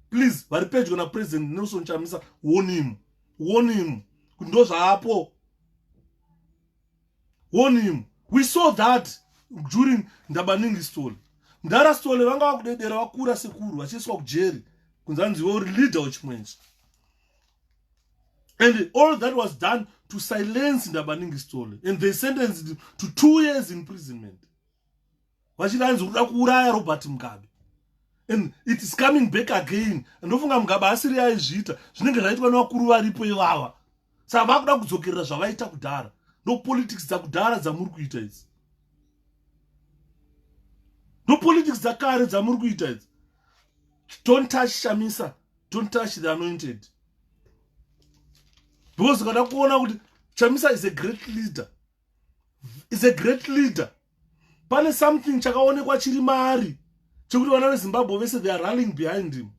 please vari pedyo napresident nelson chamisa wonimu wonimu kuti ndo zvaapo wonimu we saw that during ndabaningi story mdara story vanga vakudedera vakura sekuru vachiiswa kujeri kunzi anzi iwe uri leader wechimwenje and all that was done to silence ndabaningi story and they sentenced to two years imprisonment vachiti anzi kuda kuuraya robert mugabe and it is coming back again ndofunga mugabe asiri aizviita zvinenge zvaitwa nevakuru varipo ivava saka vakuda kudzokerera zvavaita kudhara ndopolitics dzakudhara dzamuri kuita idzi ndopolitics dzakare dzamuri kuita idzi don't touch shamisa don't touch the anointed because ukada kuona kuti chamisa is a great leader is a great leader pane something chakaonekwa chiri maari chekuti vana vezimbabwe vese they are ralling behind him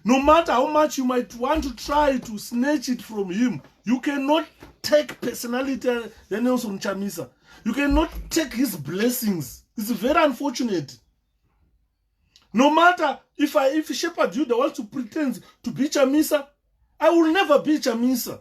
no matter how much you might want to try to snatch it from him you cannot take personality yanelson chamisa you cannot take his blessings it's very unfortunate no matter if i if shepherd yuda wants to pretend to be chamisa i will never be chamisa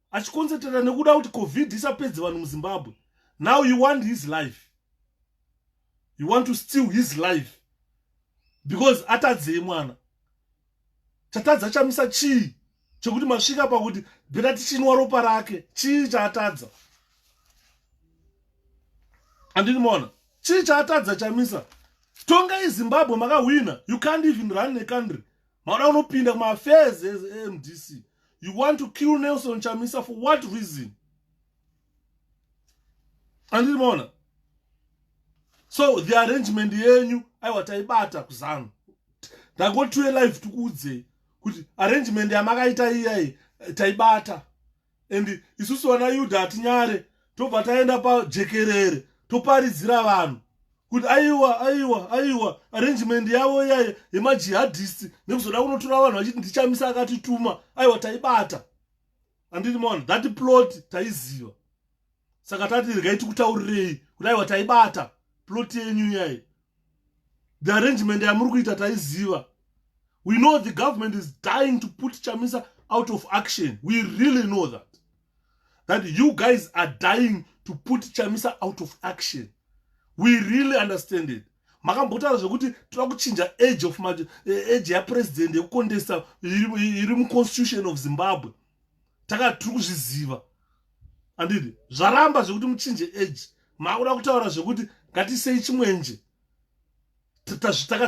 achikonsetrata nekuda kuti covid isapedze vanhu muzimbabwe now you want his life you want to steal his life because atadzei mwana chatadza chamisa chii chekuti masvika pakuti bhera tichinwa ropa rake chii chaatadza andini mona chii chaatadza chamisa tongai zimbabwe makahwina you can't even run necountry Mara unopinda kuma affairs eMDC. You want to kill Nelson Chamisa for what reason? Andiri maona. So the arrangement yenyu aiwa taibata kuzanu. Ndakoti tuye live tikuudzei kuti arrangement yamakaita iyayi taibata. and isusu vana yuda hatinyare tobva taenda pajekerere toparidzira vanhu kuti aiwa aiwa aiwa arrangement yavo iyaye yemajihadist nekuzoda kunotora vanhu vachiti ndichamisa akatituma aiwa taibata anditi maona that plot taiziva saka tati regai tikutaurirei kuti aiwa taibata plot yenyu iyaye the arrangement yamuri kuita taiziva we know the government is dying to put chamisa out of action we really know that that you guys are dying to put chamisa out of action we really understand it makambotaura zvekuti toda kuchinja age of ma, eh, age yapresident yekukondesa iri muconstitution of zimbabwe takati tiri kuzviziva andidi zvaramba zvekuti muchinje age makuda kutaura zvekuti ngatisei chimwenje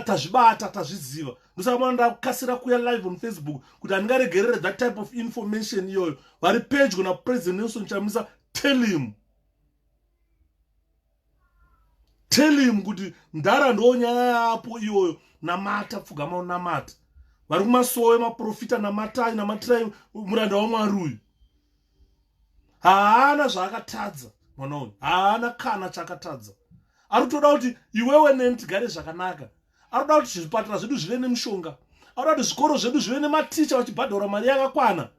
tazvibata tazviziva ndosaka mwana ndakukasira kuya live on facebook kuti handingaregerere that type of information iyoyo vari pedyo napresident nelson chamisa tell him tell him kuti mdara ndo nyaya yapo iyoyo namata pfugama unamata vari kumasowe maprofita namatai namatirai muranda wamwari uyu haana zvaakatadza mwana uyu haana kana chakatadza ari kutoda kuti iwewe neni tigare zvakanaka ari kuda kuti zvipatara zvedu zvive nemushonga ari kuda kuti zvikoro zvedu zvive nematicha vachibhadhara mari yakakwana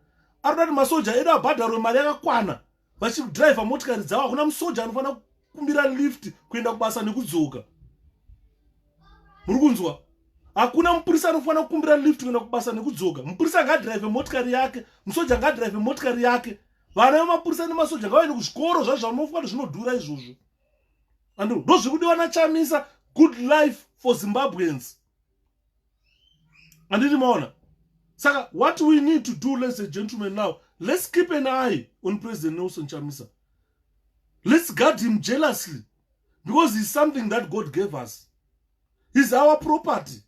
ari kuda kuti masoja edu abhadharwe mari yakakwana vachiri kudriver motikari dzavo hakuna musoja anofanira kukumbira lift kuenda kubasa nekudzoka muri kunzwa hakuna mupurisa anofanira kukumbira lift kuenda kubasa nekudzoka mupurisa angadrive motikari yake musoja angadrive motikari yake vana vemapurisa nemasoja ngavaende kuzvikoro zvazvamofwa kuti zvinodhura izvozvo and ndozviri kudiwa nachamisa good life for zimbabweans anditi maona saka what we need to do ladies and gentlemen now let's keep an eye on president nelson chamisa let's guard him jealously because he's something that god gave us he's our property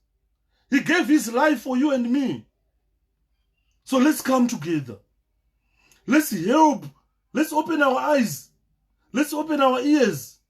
he gave his life for you and me so let's come together let's help let's open our eyes let's open our ears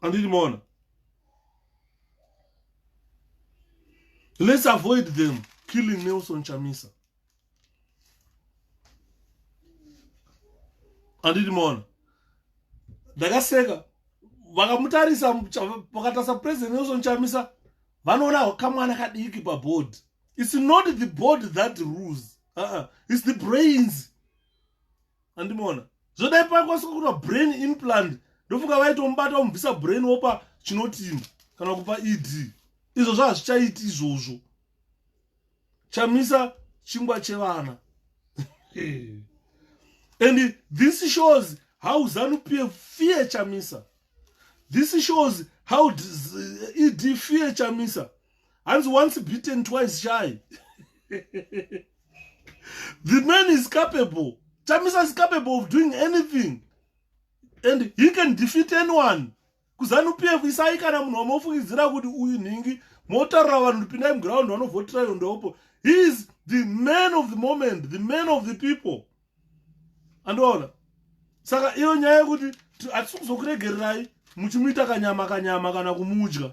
anditi maona let's avoid them killing nelson chamisa anditi maona ndakaseka vakamutarisa vakatarisa president nelson chamisa vanoona kamwana kadiki paboard it's not the board that rules uh -uh. it's the brains andimoona zvodai pakwaniswa kuita brain implant ndofunga vaitomubata omubvisa brain wopa chinotima kana kupa ed izvo zvazvichaiti izvozvo chamisa chingwa chevana and this shows how zanu p f fear chamisa this shows how ed fear chamisa hanzi once beaten twice shy the man is capable chamisa is capable of doing anything and he can defeat anyone kuzanu p f isai kana munhu wamofungidzira kuti uyu nhingi motaurira vanhu kuti pindai muground vanovhotira iyo ndopo he is the man of the moment the man of the people andoona saka iyo nyaya yekuti hatisi kuzokuregererai muchimuita kanyama kanyama kana kumudya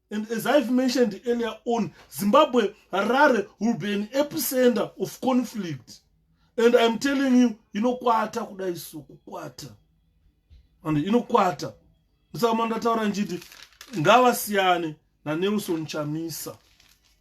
And as I've mentioned earlier on, Zimbabwe, Harare will be an epicenter of conflict. And I'm telling you, inokwata kudai so kukwata. And inokwata. Musaka mandataura njiti ngavasiyane naNelson Chamisa.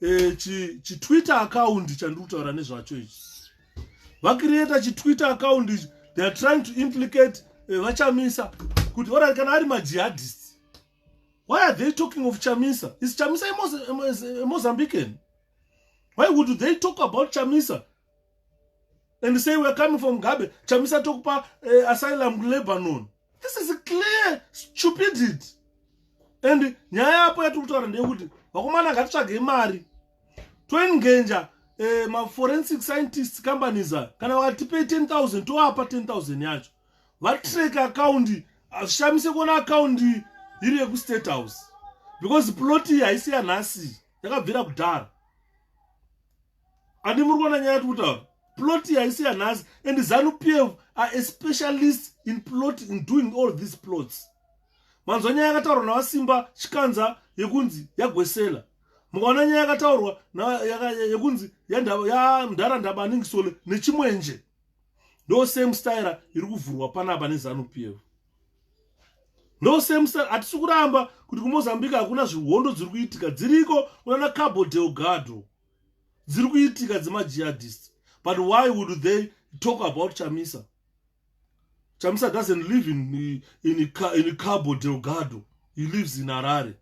eh, chitwitter chi account chandiri kutaura nezvacho ichi vakiriyeta chitwitter account ichi they are trying to implicate eh, vachamisa kuti orati kana ari majihadist why are they talking of chamisa is chamisa a mozambican why would they talk about chamisa and say we're coming from gabe chamisa tokupa uh, asylum kulebanon this is clear stupidity and nyaya yapo yatiri kutaura ndeyekuti vakomana ngatitsvagei mari toengenja eh, maforensic scientist companies a kana vakatipei 10000 toapa 10000 yacho vatreke akaundi hazvishamise kuona akaundi iri yekustate house because ploti haisi yanhasi yakabvira kudhara handi muri kuona nyaya tikutaura plot haisi yanhasi and zanu pf are a specialist in plot in doing all these plots manzwa nyaya yakataurwa navasimba chikanza yekunzi yagwesela mukaona nyaya yakataurwa yekunzi yamdhara ndabaningisole nechimwenje ndo same style iri kuvhurwa panapa nezanu pf ndo same style hatisi kuramba kuti kumozambique hakuna zvihondo dziri kuitika dziriko kunana cabo delgado dziri kuitika dzemajihadist but why would they talk about chamisa chamisa doesn't live in, in, in, in cabo delgado he lives in harare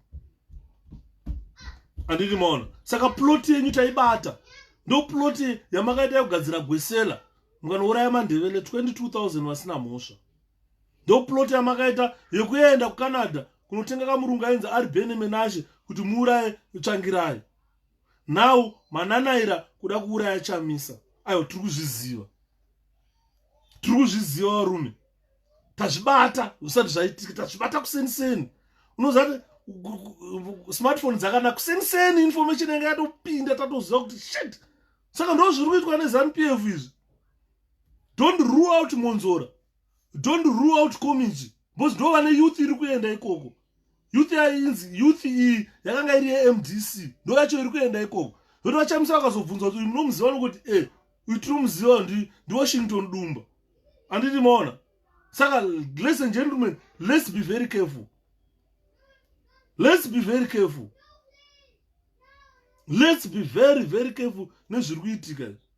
andini maona saka ploti yenyu taibata ndo ploti yamakaita yekugadzira gwesela mukanouraya mandevele 22000 vasina mhosva ndo ploti yamakaita yekuenda kucanada kunotenga kamurungu ainzi ari bene menashe kuti muuraye tsvangirai now mananaira kuda kuuraya chamisa aiwa tiri kuzviziva tiri kuzviziva varume tazvibata zvisati zvaitika tazvibata kuseni seni unozati smartphone dzakanaka kuseni seni information yanga yatopinda tatoziva kuti shit saka ndo zviri kuitwa nezanu p f izvi don't rule out monzora don't rule out community because ndo vane youth iri kuenda ikoko youth yainzi youth iyi yakanga iri yemdc ndo yacho iri kuenda ikoko zoti vachamisa vakazobvunza kuti uyu munomuziva nokuti e eh, uyu tinomuziva ndi ndiwashington dumba anditi maona saka ladies and gentlemen let's be very careful let's be very careful let's be very very careful nezviri kuitika izvi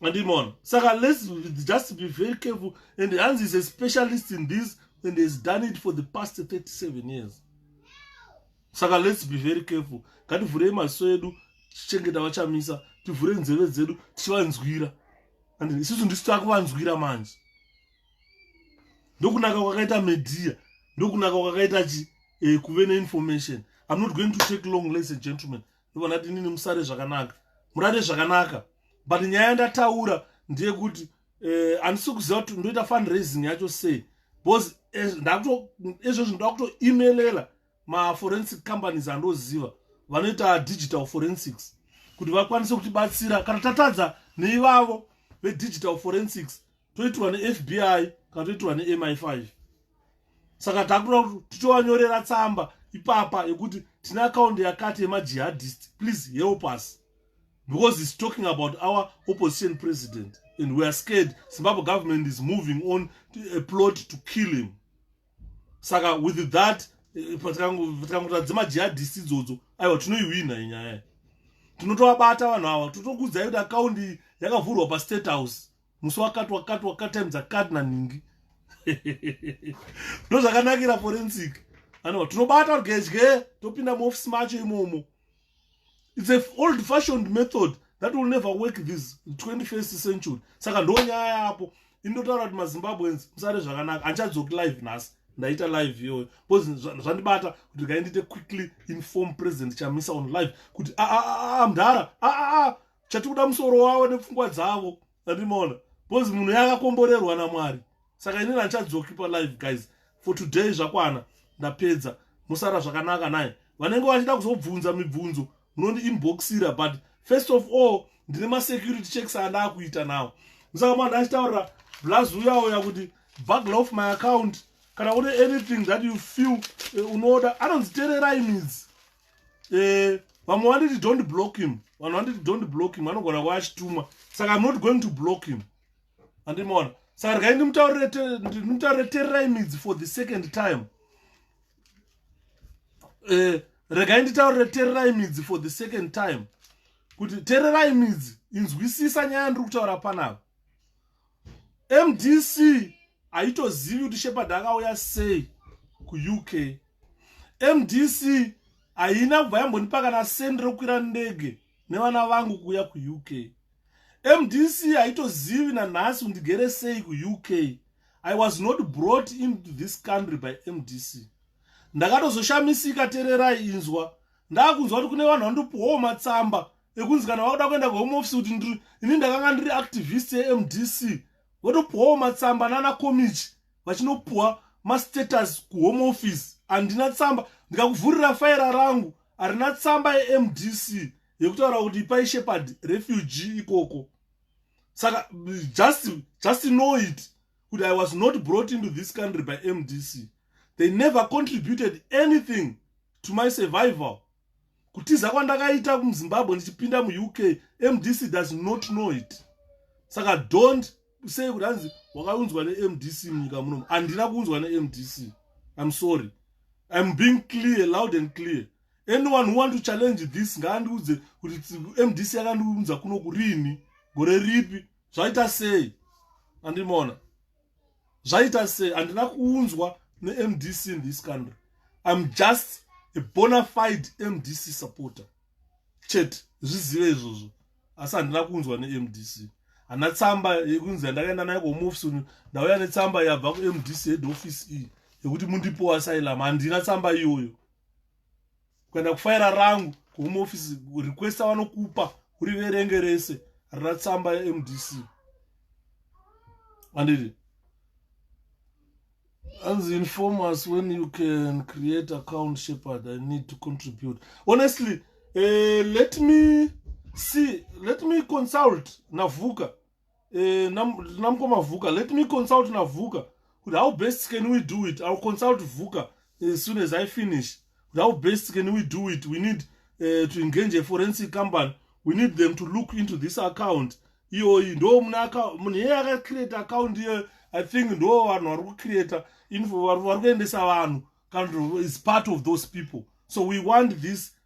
andimona saka let's just be very careful and hanzi is a specialist in this and has done it for the past 37 years saka let's be very careful ngativhurei maziso edu tichengeta vachamisa tivhure nzeve dzedu tichivanzwira and isusu ndisu takuvanzwira manje ndokunaka kwakaita media ndokunaka kwakaita chi eh, kuve neinformation i'm not going to take long ladies and gentlemen ndivona kuti inini musare zvakanaka murare zvakanaka but nyaya yandataura ndeyekuti eh, handisi eh, kuziva kuti ndoita fundraising yacho sei because eh, ezvezvo ndakutoemelela maforensic companies andoziva vanoita digital forensics kuti vakwanise kutibatsira kana tatadza neivavo vedigital forensics toitirwa nefbi kana toitirwa nemi5 saka takuda kuti tichovanyorera tsamba ipapa yekuti tine akaundi yakati yemajihadist please help us because he's talking about our opposition president and weare scared zimbabwe government is moving on to a plot to kill him saka with that eh, patikangoita dzemajihadist idzodzo aiwa tinoihwina inyaya tinovabata vanhu ava totokudzai kuti akaundi yakavhurwa pastate house musi wakati wakati wakati time dzakati nanhingi ndozvakanakira forensic anova tinobata rugedye topinda muofisi macho imomo its a old fashioned method that will never work this 21st century saka ndo nyaya yapo indotaura kuti mazimbabweans musare zvakanaka andichadzoki live nhasi ndaita live iyoyo bcause zvandibata kuti ndikaendite quickly inform president chamisa on live kuti aamdhara ah, ah, ah, chatikuda musoro wavo nepfungwa dzavo andimoona because munhu yakakomborerwa namwari saka inini handichadzoki palive guys for today zvakwana ndapedza musara zvakanaka naye vanenge vachida kuzobvunza mibvunzo munondi inboxira but first of all ndine masecurity checks andaa kuita nawo musaka mwana achitaurira blaz uyawo yakuti buggle off my account kana une anything that you feel eh, unoda anonzitererai midzi eh, vamwe uh, vanditi don't block him vanhu vanditi don't block him vanogona kuva achitumwa saka im not going to block him andimaona saka rikai ndimutaurire tererai midzi for the second time eh, regai nditaurire tererai midzi for the second time kuti tererai midzi inzwisisa nyaya ndiri kutaura panapa mdc haitozivi kuti shepard akauya sei kuuk mdc haina kubva yambonipa kana sendi rokwira ndege nevana vangu kuuya kuuk mdc haitozivi nanhasi kundigere sei kuuk i was not brought into this country by mdc ndakatozoshamisika tererai inzwa ndakunzwa kuti kune vanhu vandopiwawo matsamba ekunzi kana wakuda kuenda kuhome office kuti ndiri ini ndakanga ndiri activist yemdc votopuwawo matsamba nana komichi vachinopuwa mastatus kuhome office handina tsamba ndikakuvhurira faira rangu harina tsamba yemdc yekutaura kuti ipai shepherd refugee ikoko saka just just know it kuti i was not brought into this country by mdc they never contributed anything to my survival kutiza kwandakaita muzimbabwe ndichipinda muuk mdc does not know it saka don't sei kuti hanzi wakaunzwa nemdc munyika munomu handina kuunzwa nemdc im sorry im being clear loud and clear anyone who want to challenge this ngaandiudze kuti mdc yakandiunza kuno kurini gore ripi zvaita sei andimona zvaita sei handina kuunzwa nemdc in this country im just a bonafide mdc supporter chete zvizive izvozvo asi handina kuunzwa nemdc hana tsamba yekunzi yandakaenda nayo komofisini ndauya netsamba yabva kumdc head office iyi yekuti mundipowa asylum handina tsamba iyoyo kuenda kufaira rangu kuhome office request avanokupa uri verenge rese rina tsamba yemdc andiri as inform us when you can create account shepherd i need to contribute honestly uh, let me see let me consult navuka eh, namukoma vhuka let me consult navhuka kuti how best can we do it ill consult vhuka as eh, soon as i finish kuti how best can we do it we need uh, to engage a forensic company we need them to look into this account iyoyi ndo munhu yeye akacreate account iyoyo i think ndo vanhu vari kucreata info vari kuendesa vanhu kana is part of those people so we want this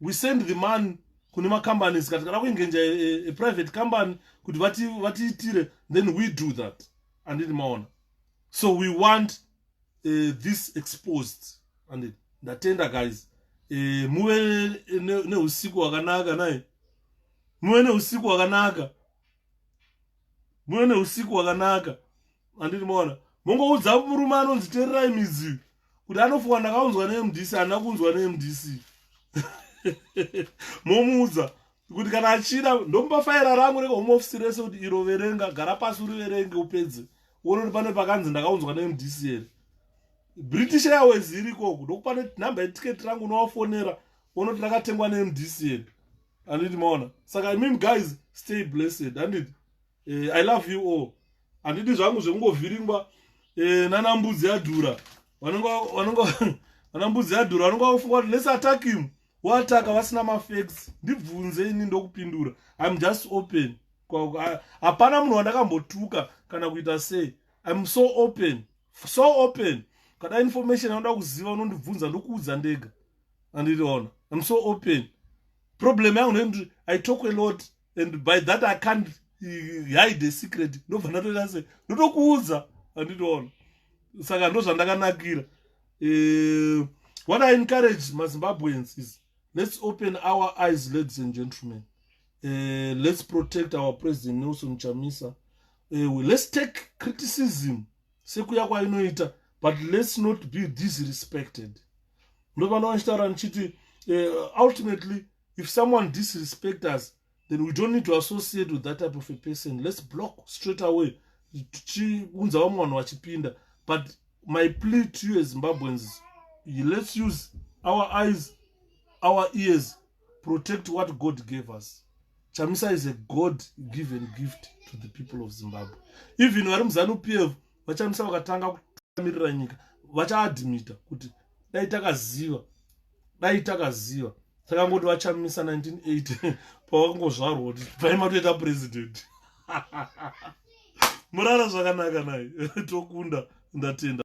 we send the money kune macompanies ka tikada kuengenja a private company kuti vatiitire then we do that anditi maona so we want uh, this exposed anditi ndatenda guys uh, muve neusiku ne hwakanaka naye muve neusiku hwakanaka muve neusiku wakanaka anditi maona mongoudza murume anonzi tererai midzi kuti anofuwa ndakaunzwa nemdc handina kunzwa nemdc momuudza kuti kana achida ndomupa faira rangu rega home office rese kuti iro verenga gara pasi uriverenge upedze uone kuti pane pakanzi ndakaunzwa nemdc here british airways iri ikoko ndokupa nenumber yetiketi rangu unovafonera unoti rakatengwa nemdcn anditi maona saka i mean guys stay blessed anditi eh, i love you all anditi zvangu zvekungovhiringwa eh, nana mbudzi yadhura vana mbudzi yadhura vanenge vakufunga kuti lets attack him wataka vasina mafacts ndibvunze ini ndokupindura iam just open hapana munhu wandakambotuka kana kuita sei iam so open so open kada information yaunoda kuziva unondibvunza ndokuudza ndega andiriona im so open problem yangu nekuti i talk a lot and by that i can't hide a secret ndobva ndatoita se ndotokuudza andiriona saka ndo zvandakanakira eh, what i encourage mazimbabweans is let's open our eyes ladies and gentlemen uh, let's protect our president nelson chamisa uh, let's take criticism sekuya kwainoita but let's not be disrespected ndopano vachitaura ndichiti uh, ultimately if someone disrespect us then we don't need to associate with that type of a person let's block straight away tichiunza vamwe vanhu vachipinda but my plea to you as zimbabweans let's use our eyes our ears protect what god gave us chamisa is a god given gift to the people of zimbabwe even vari muzanu p f vachamisa vakatanga kutamirira nyika vachaadmita kuti dai takaziva dai takaziva takangoti vachamisa 1980 pavakangozvarwa kuti pai matoita president murara zvakanaka naye tokunda ndatenda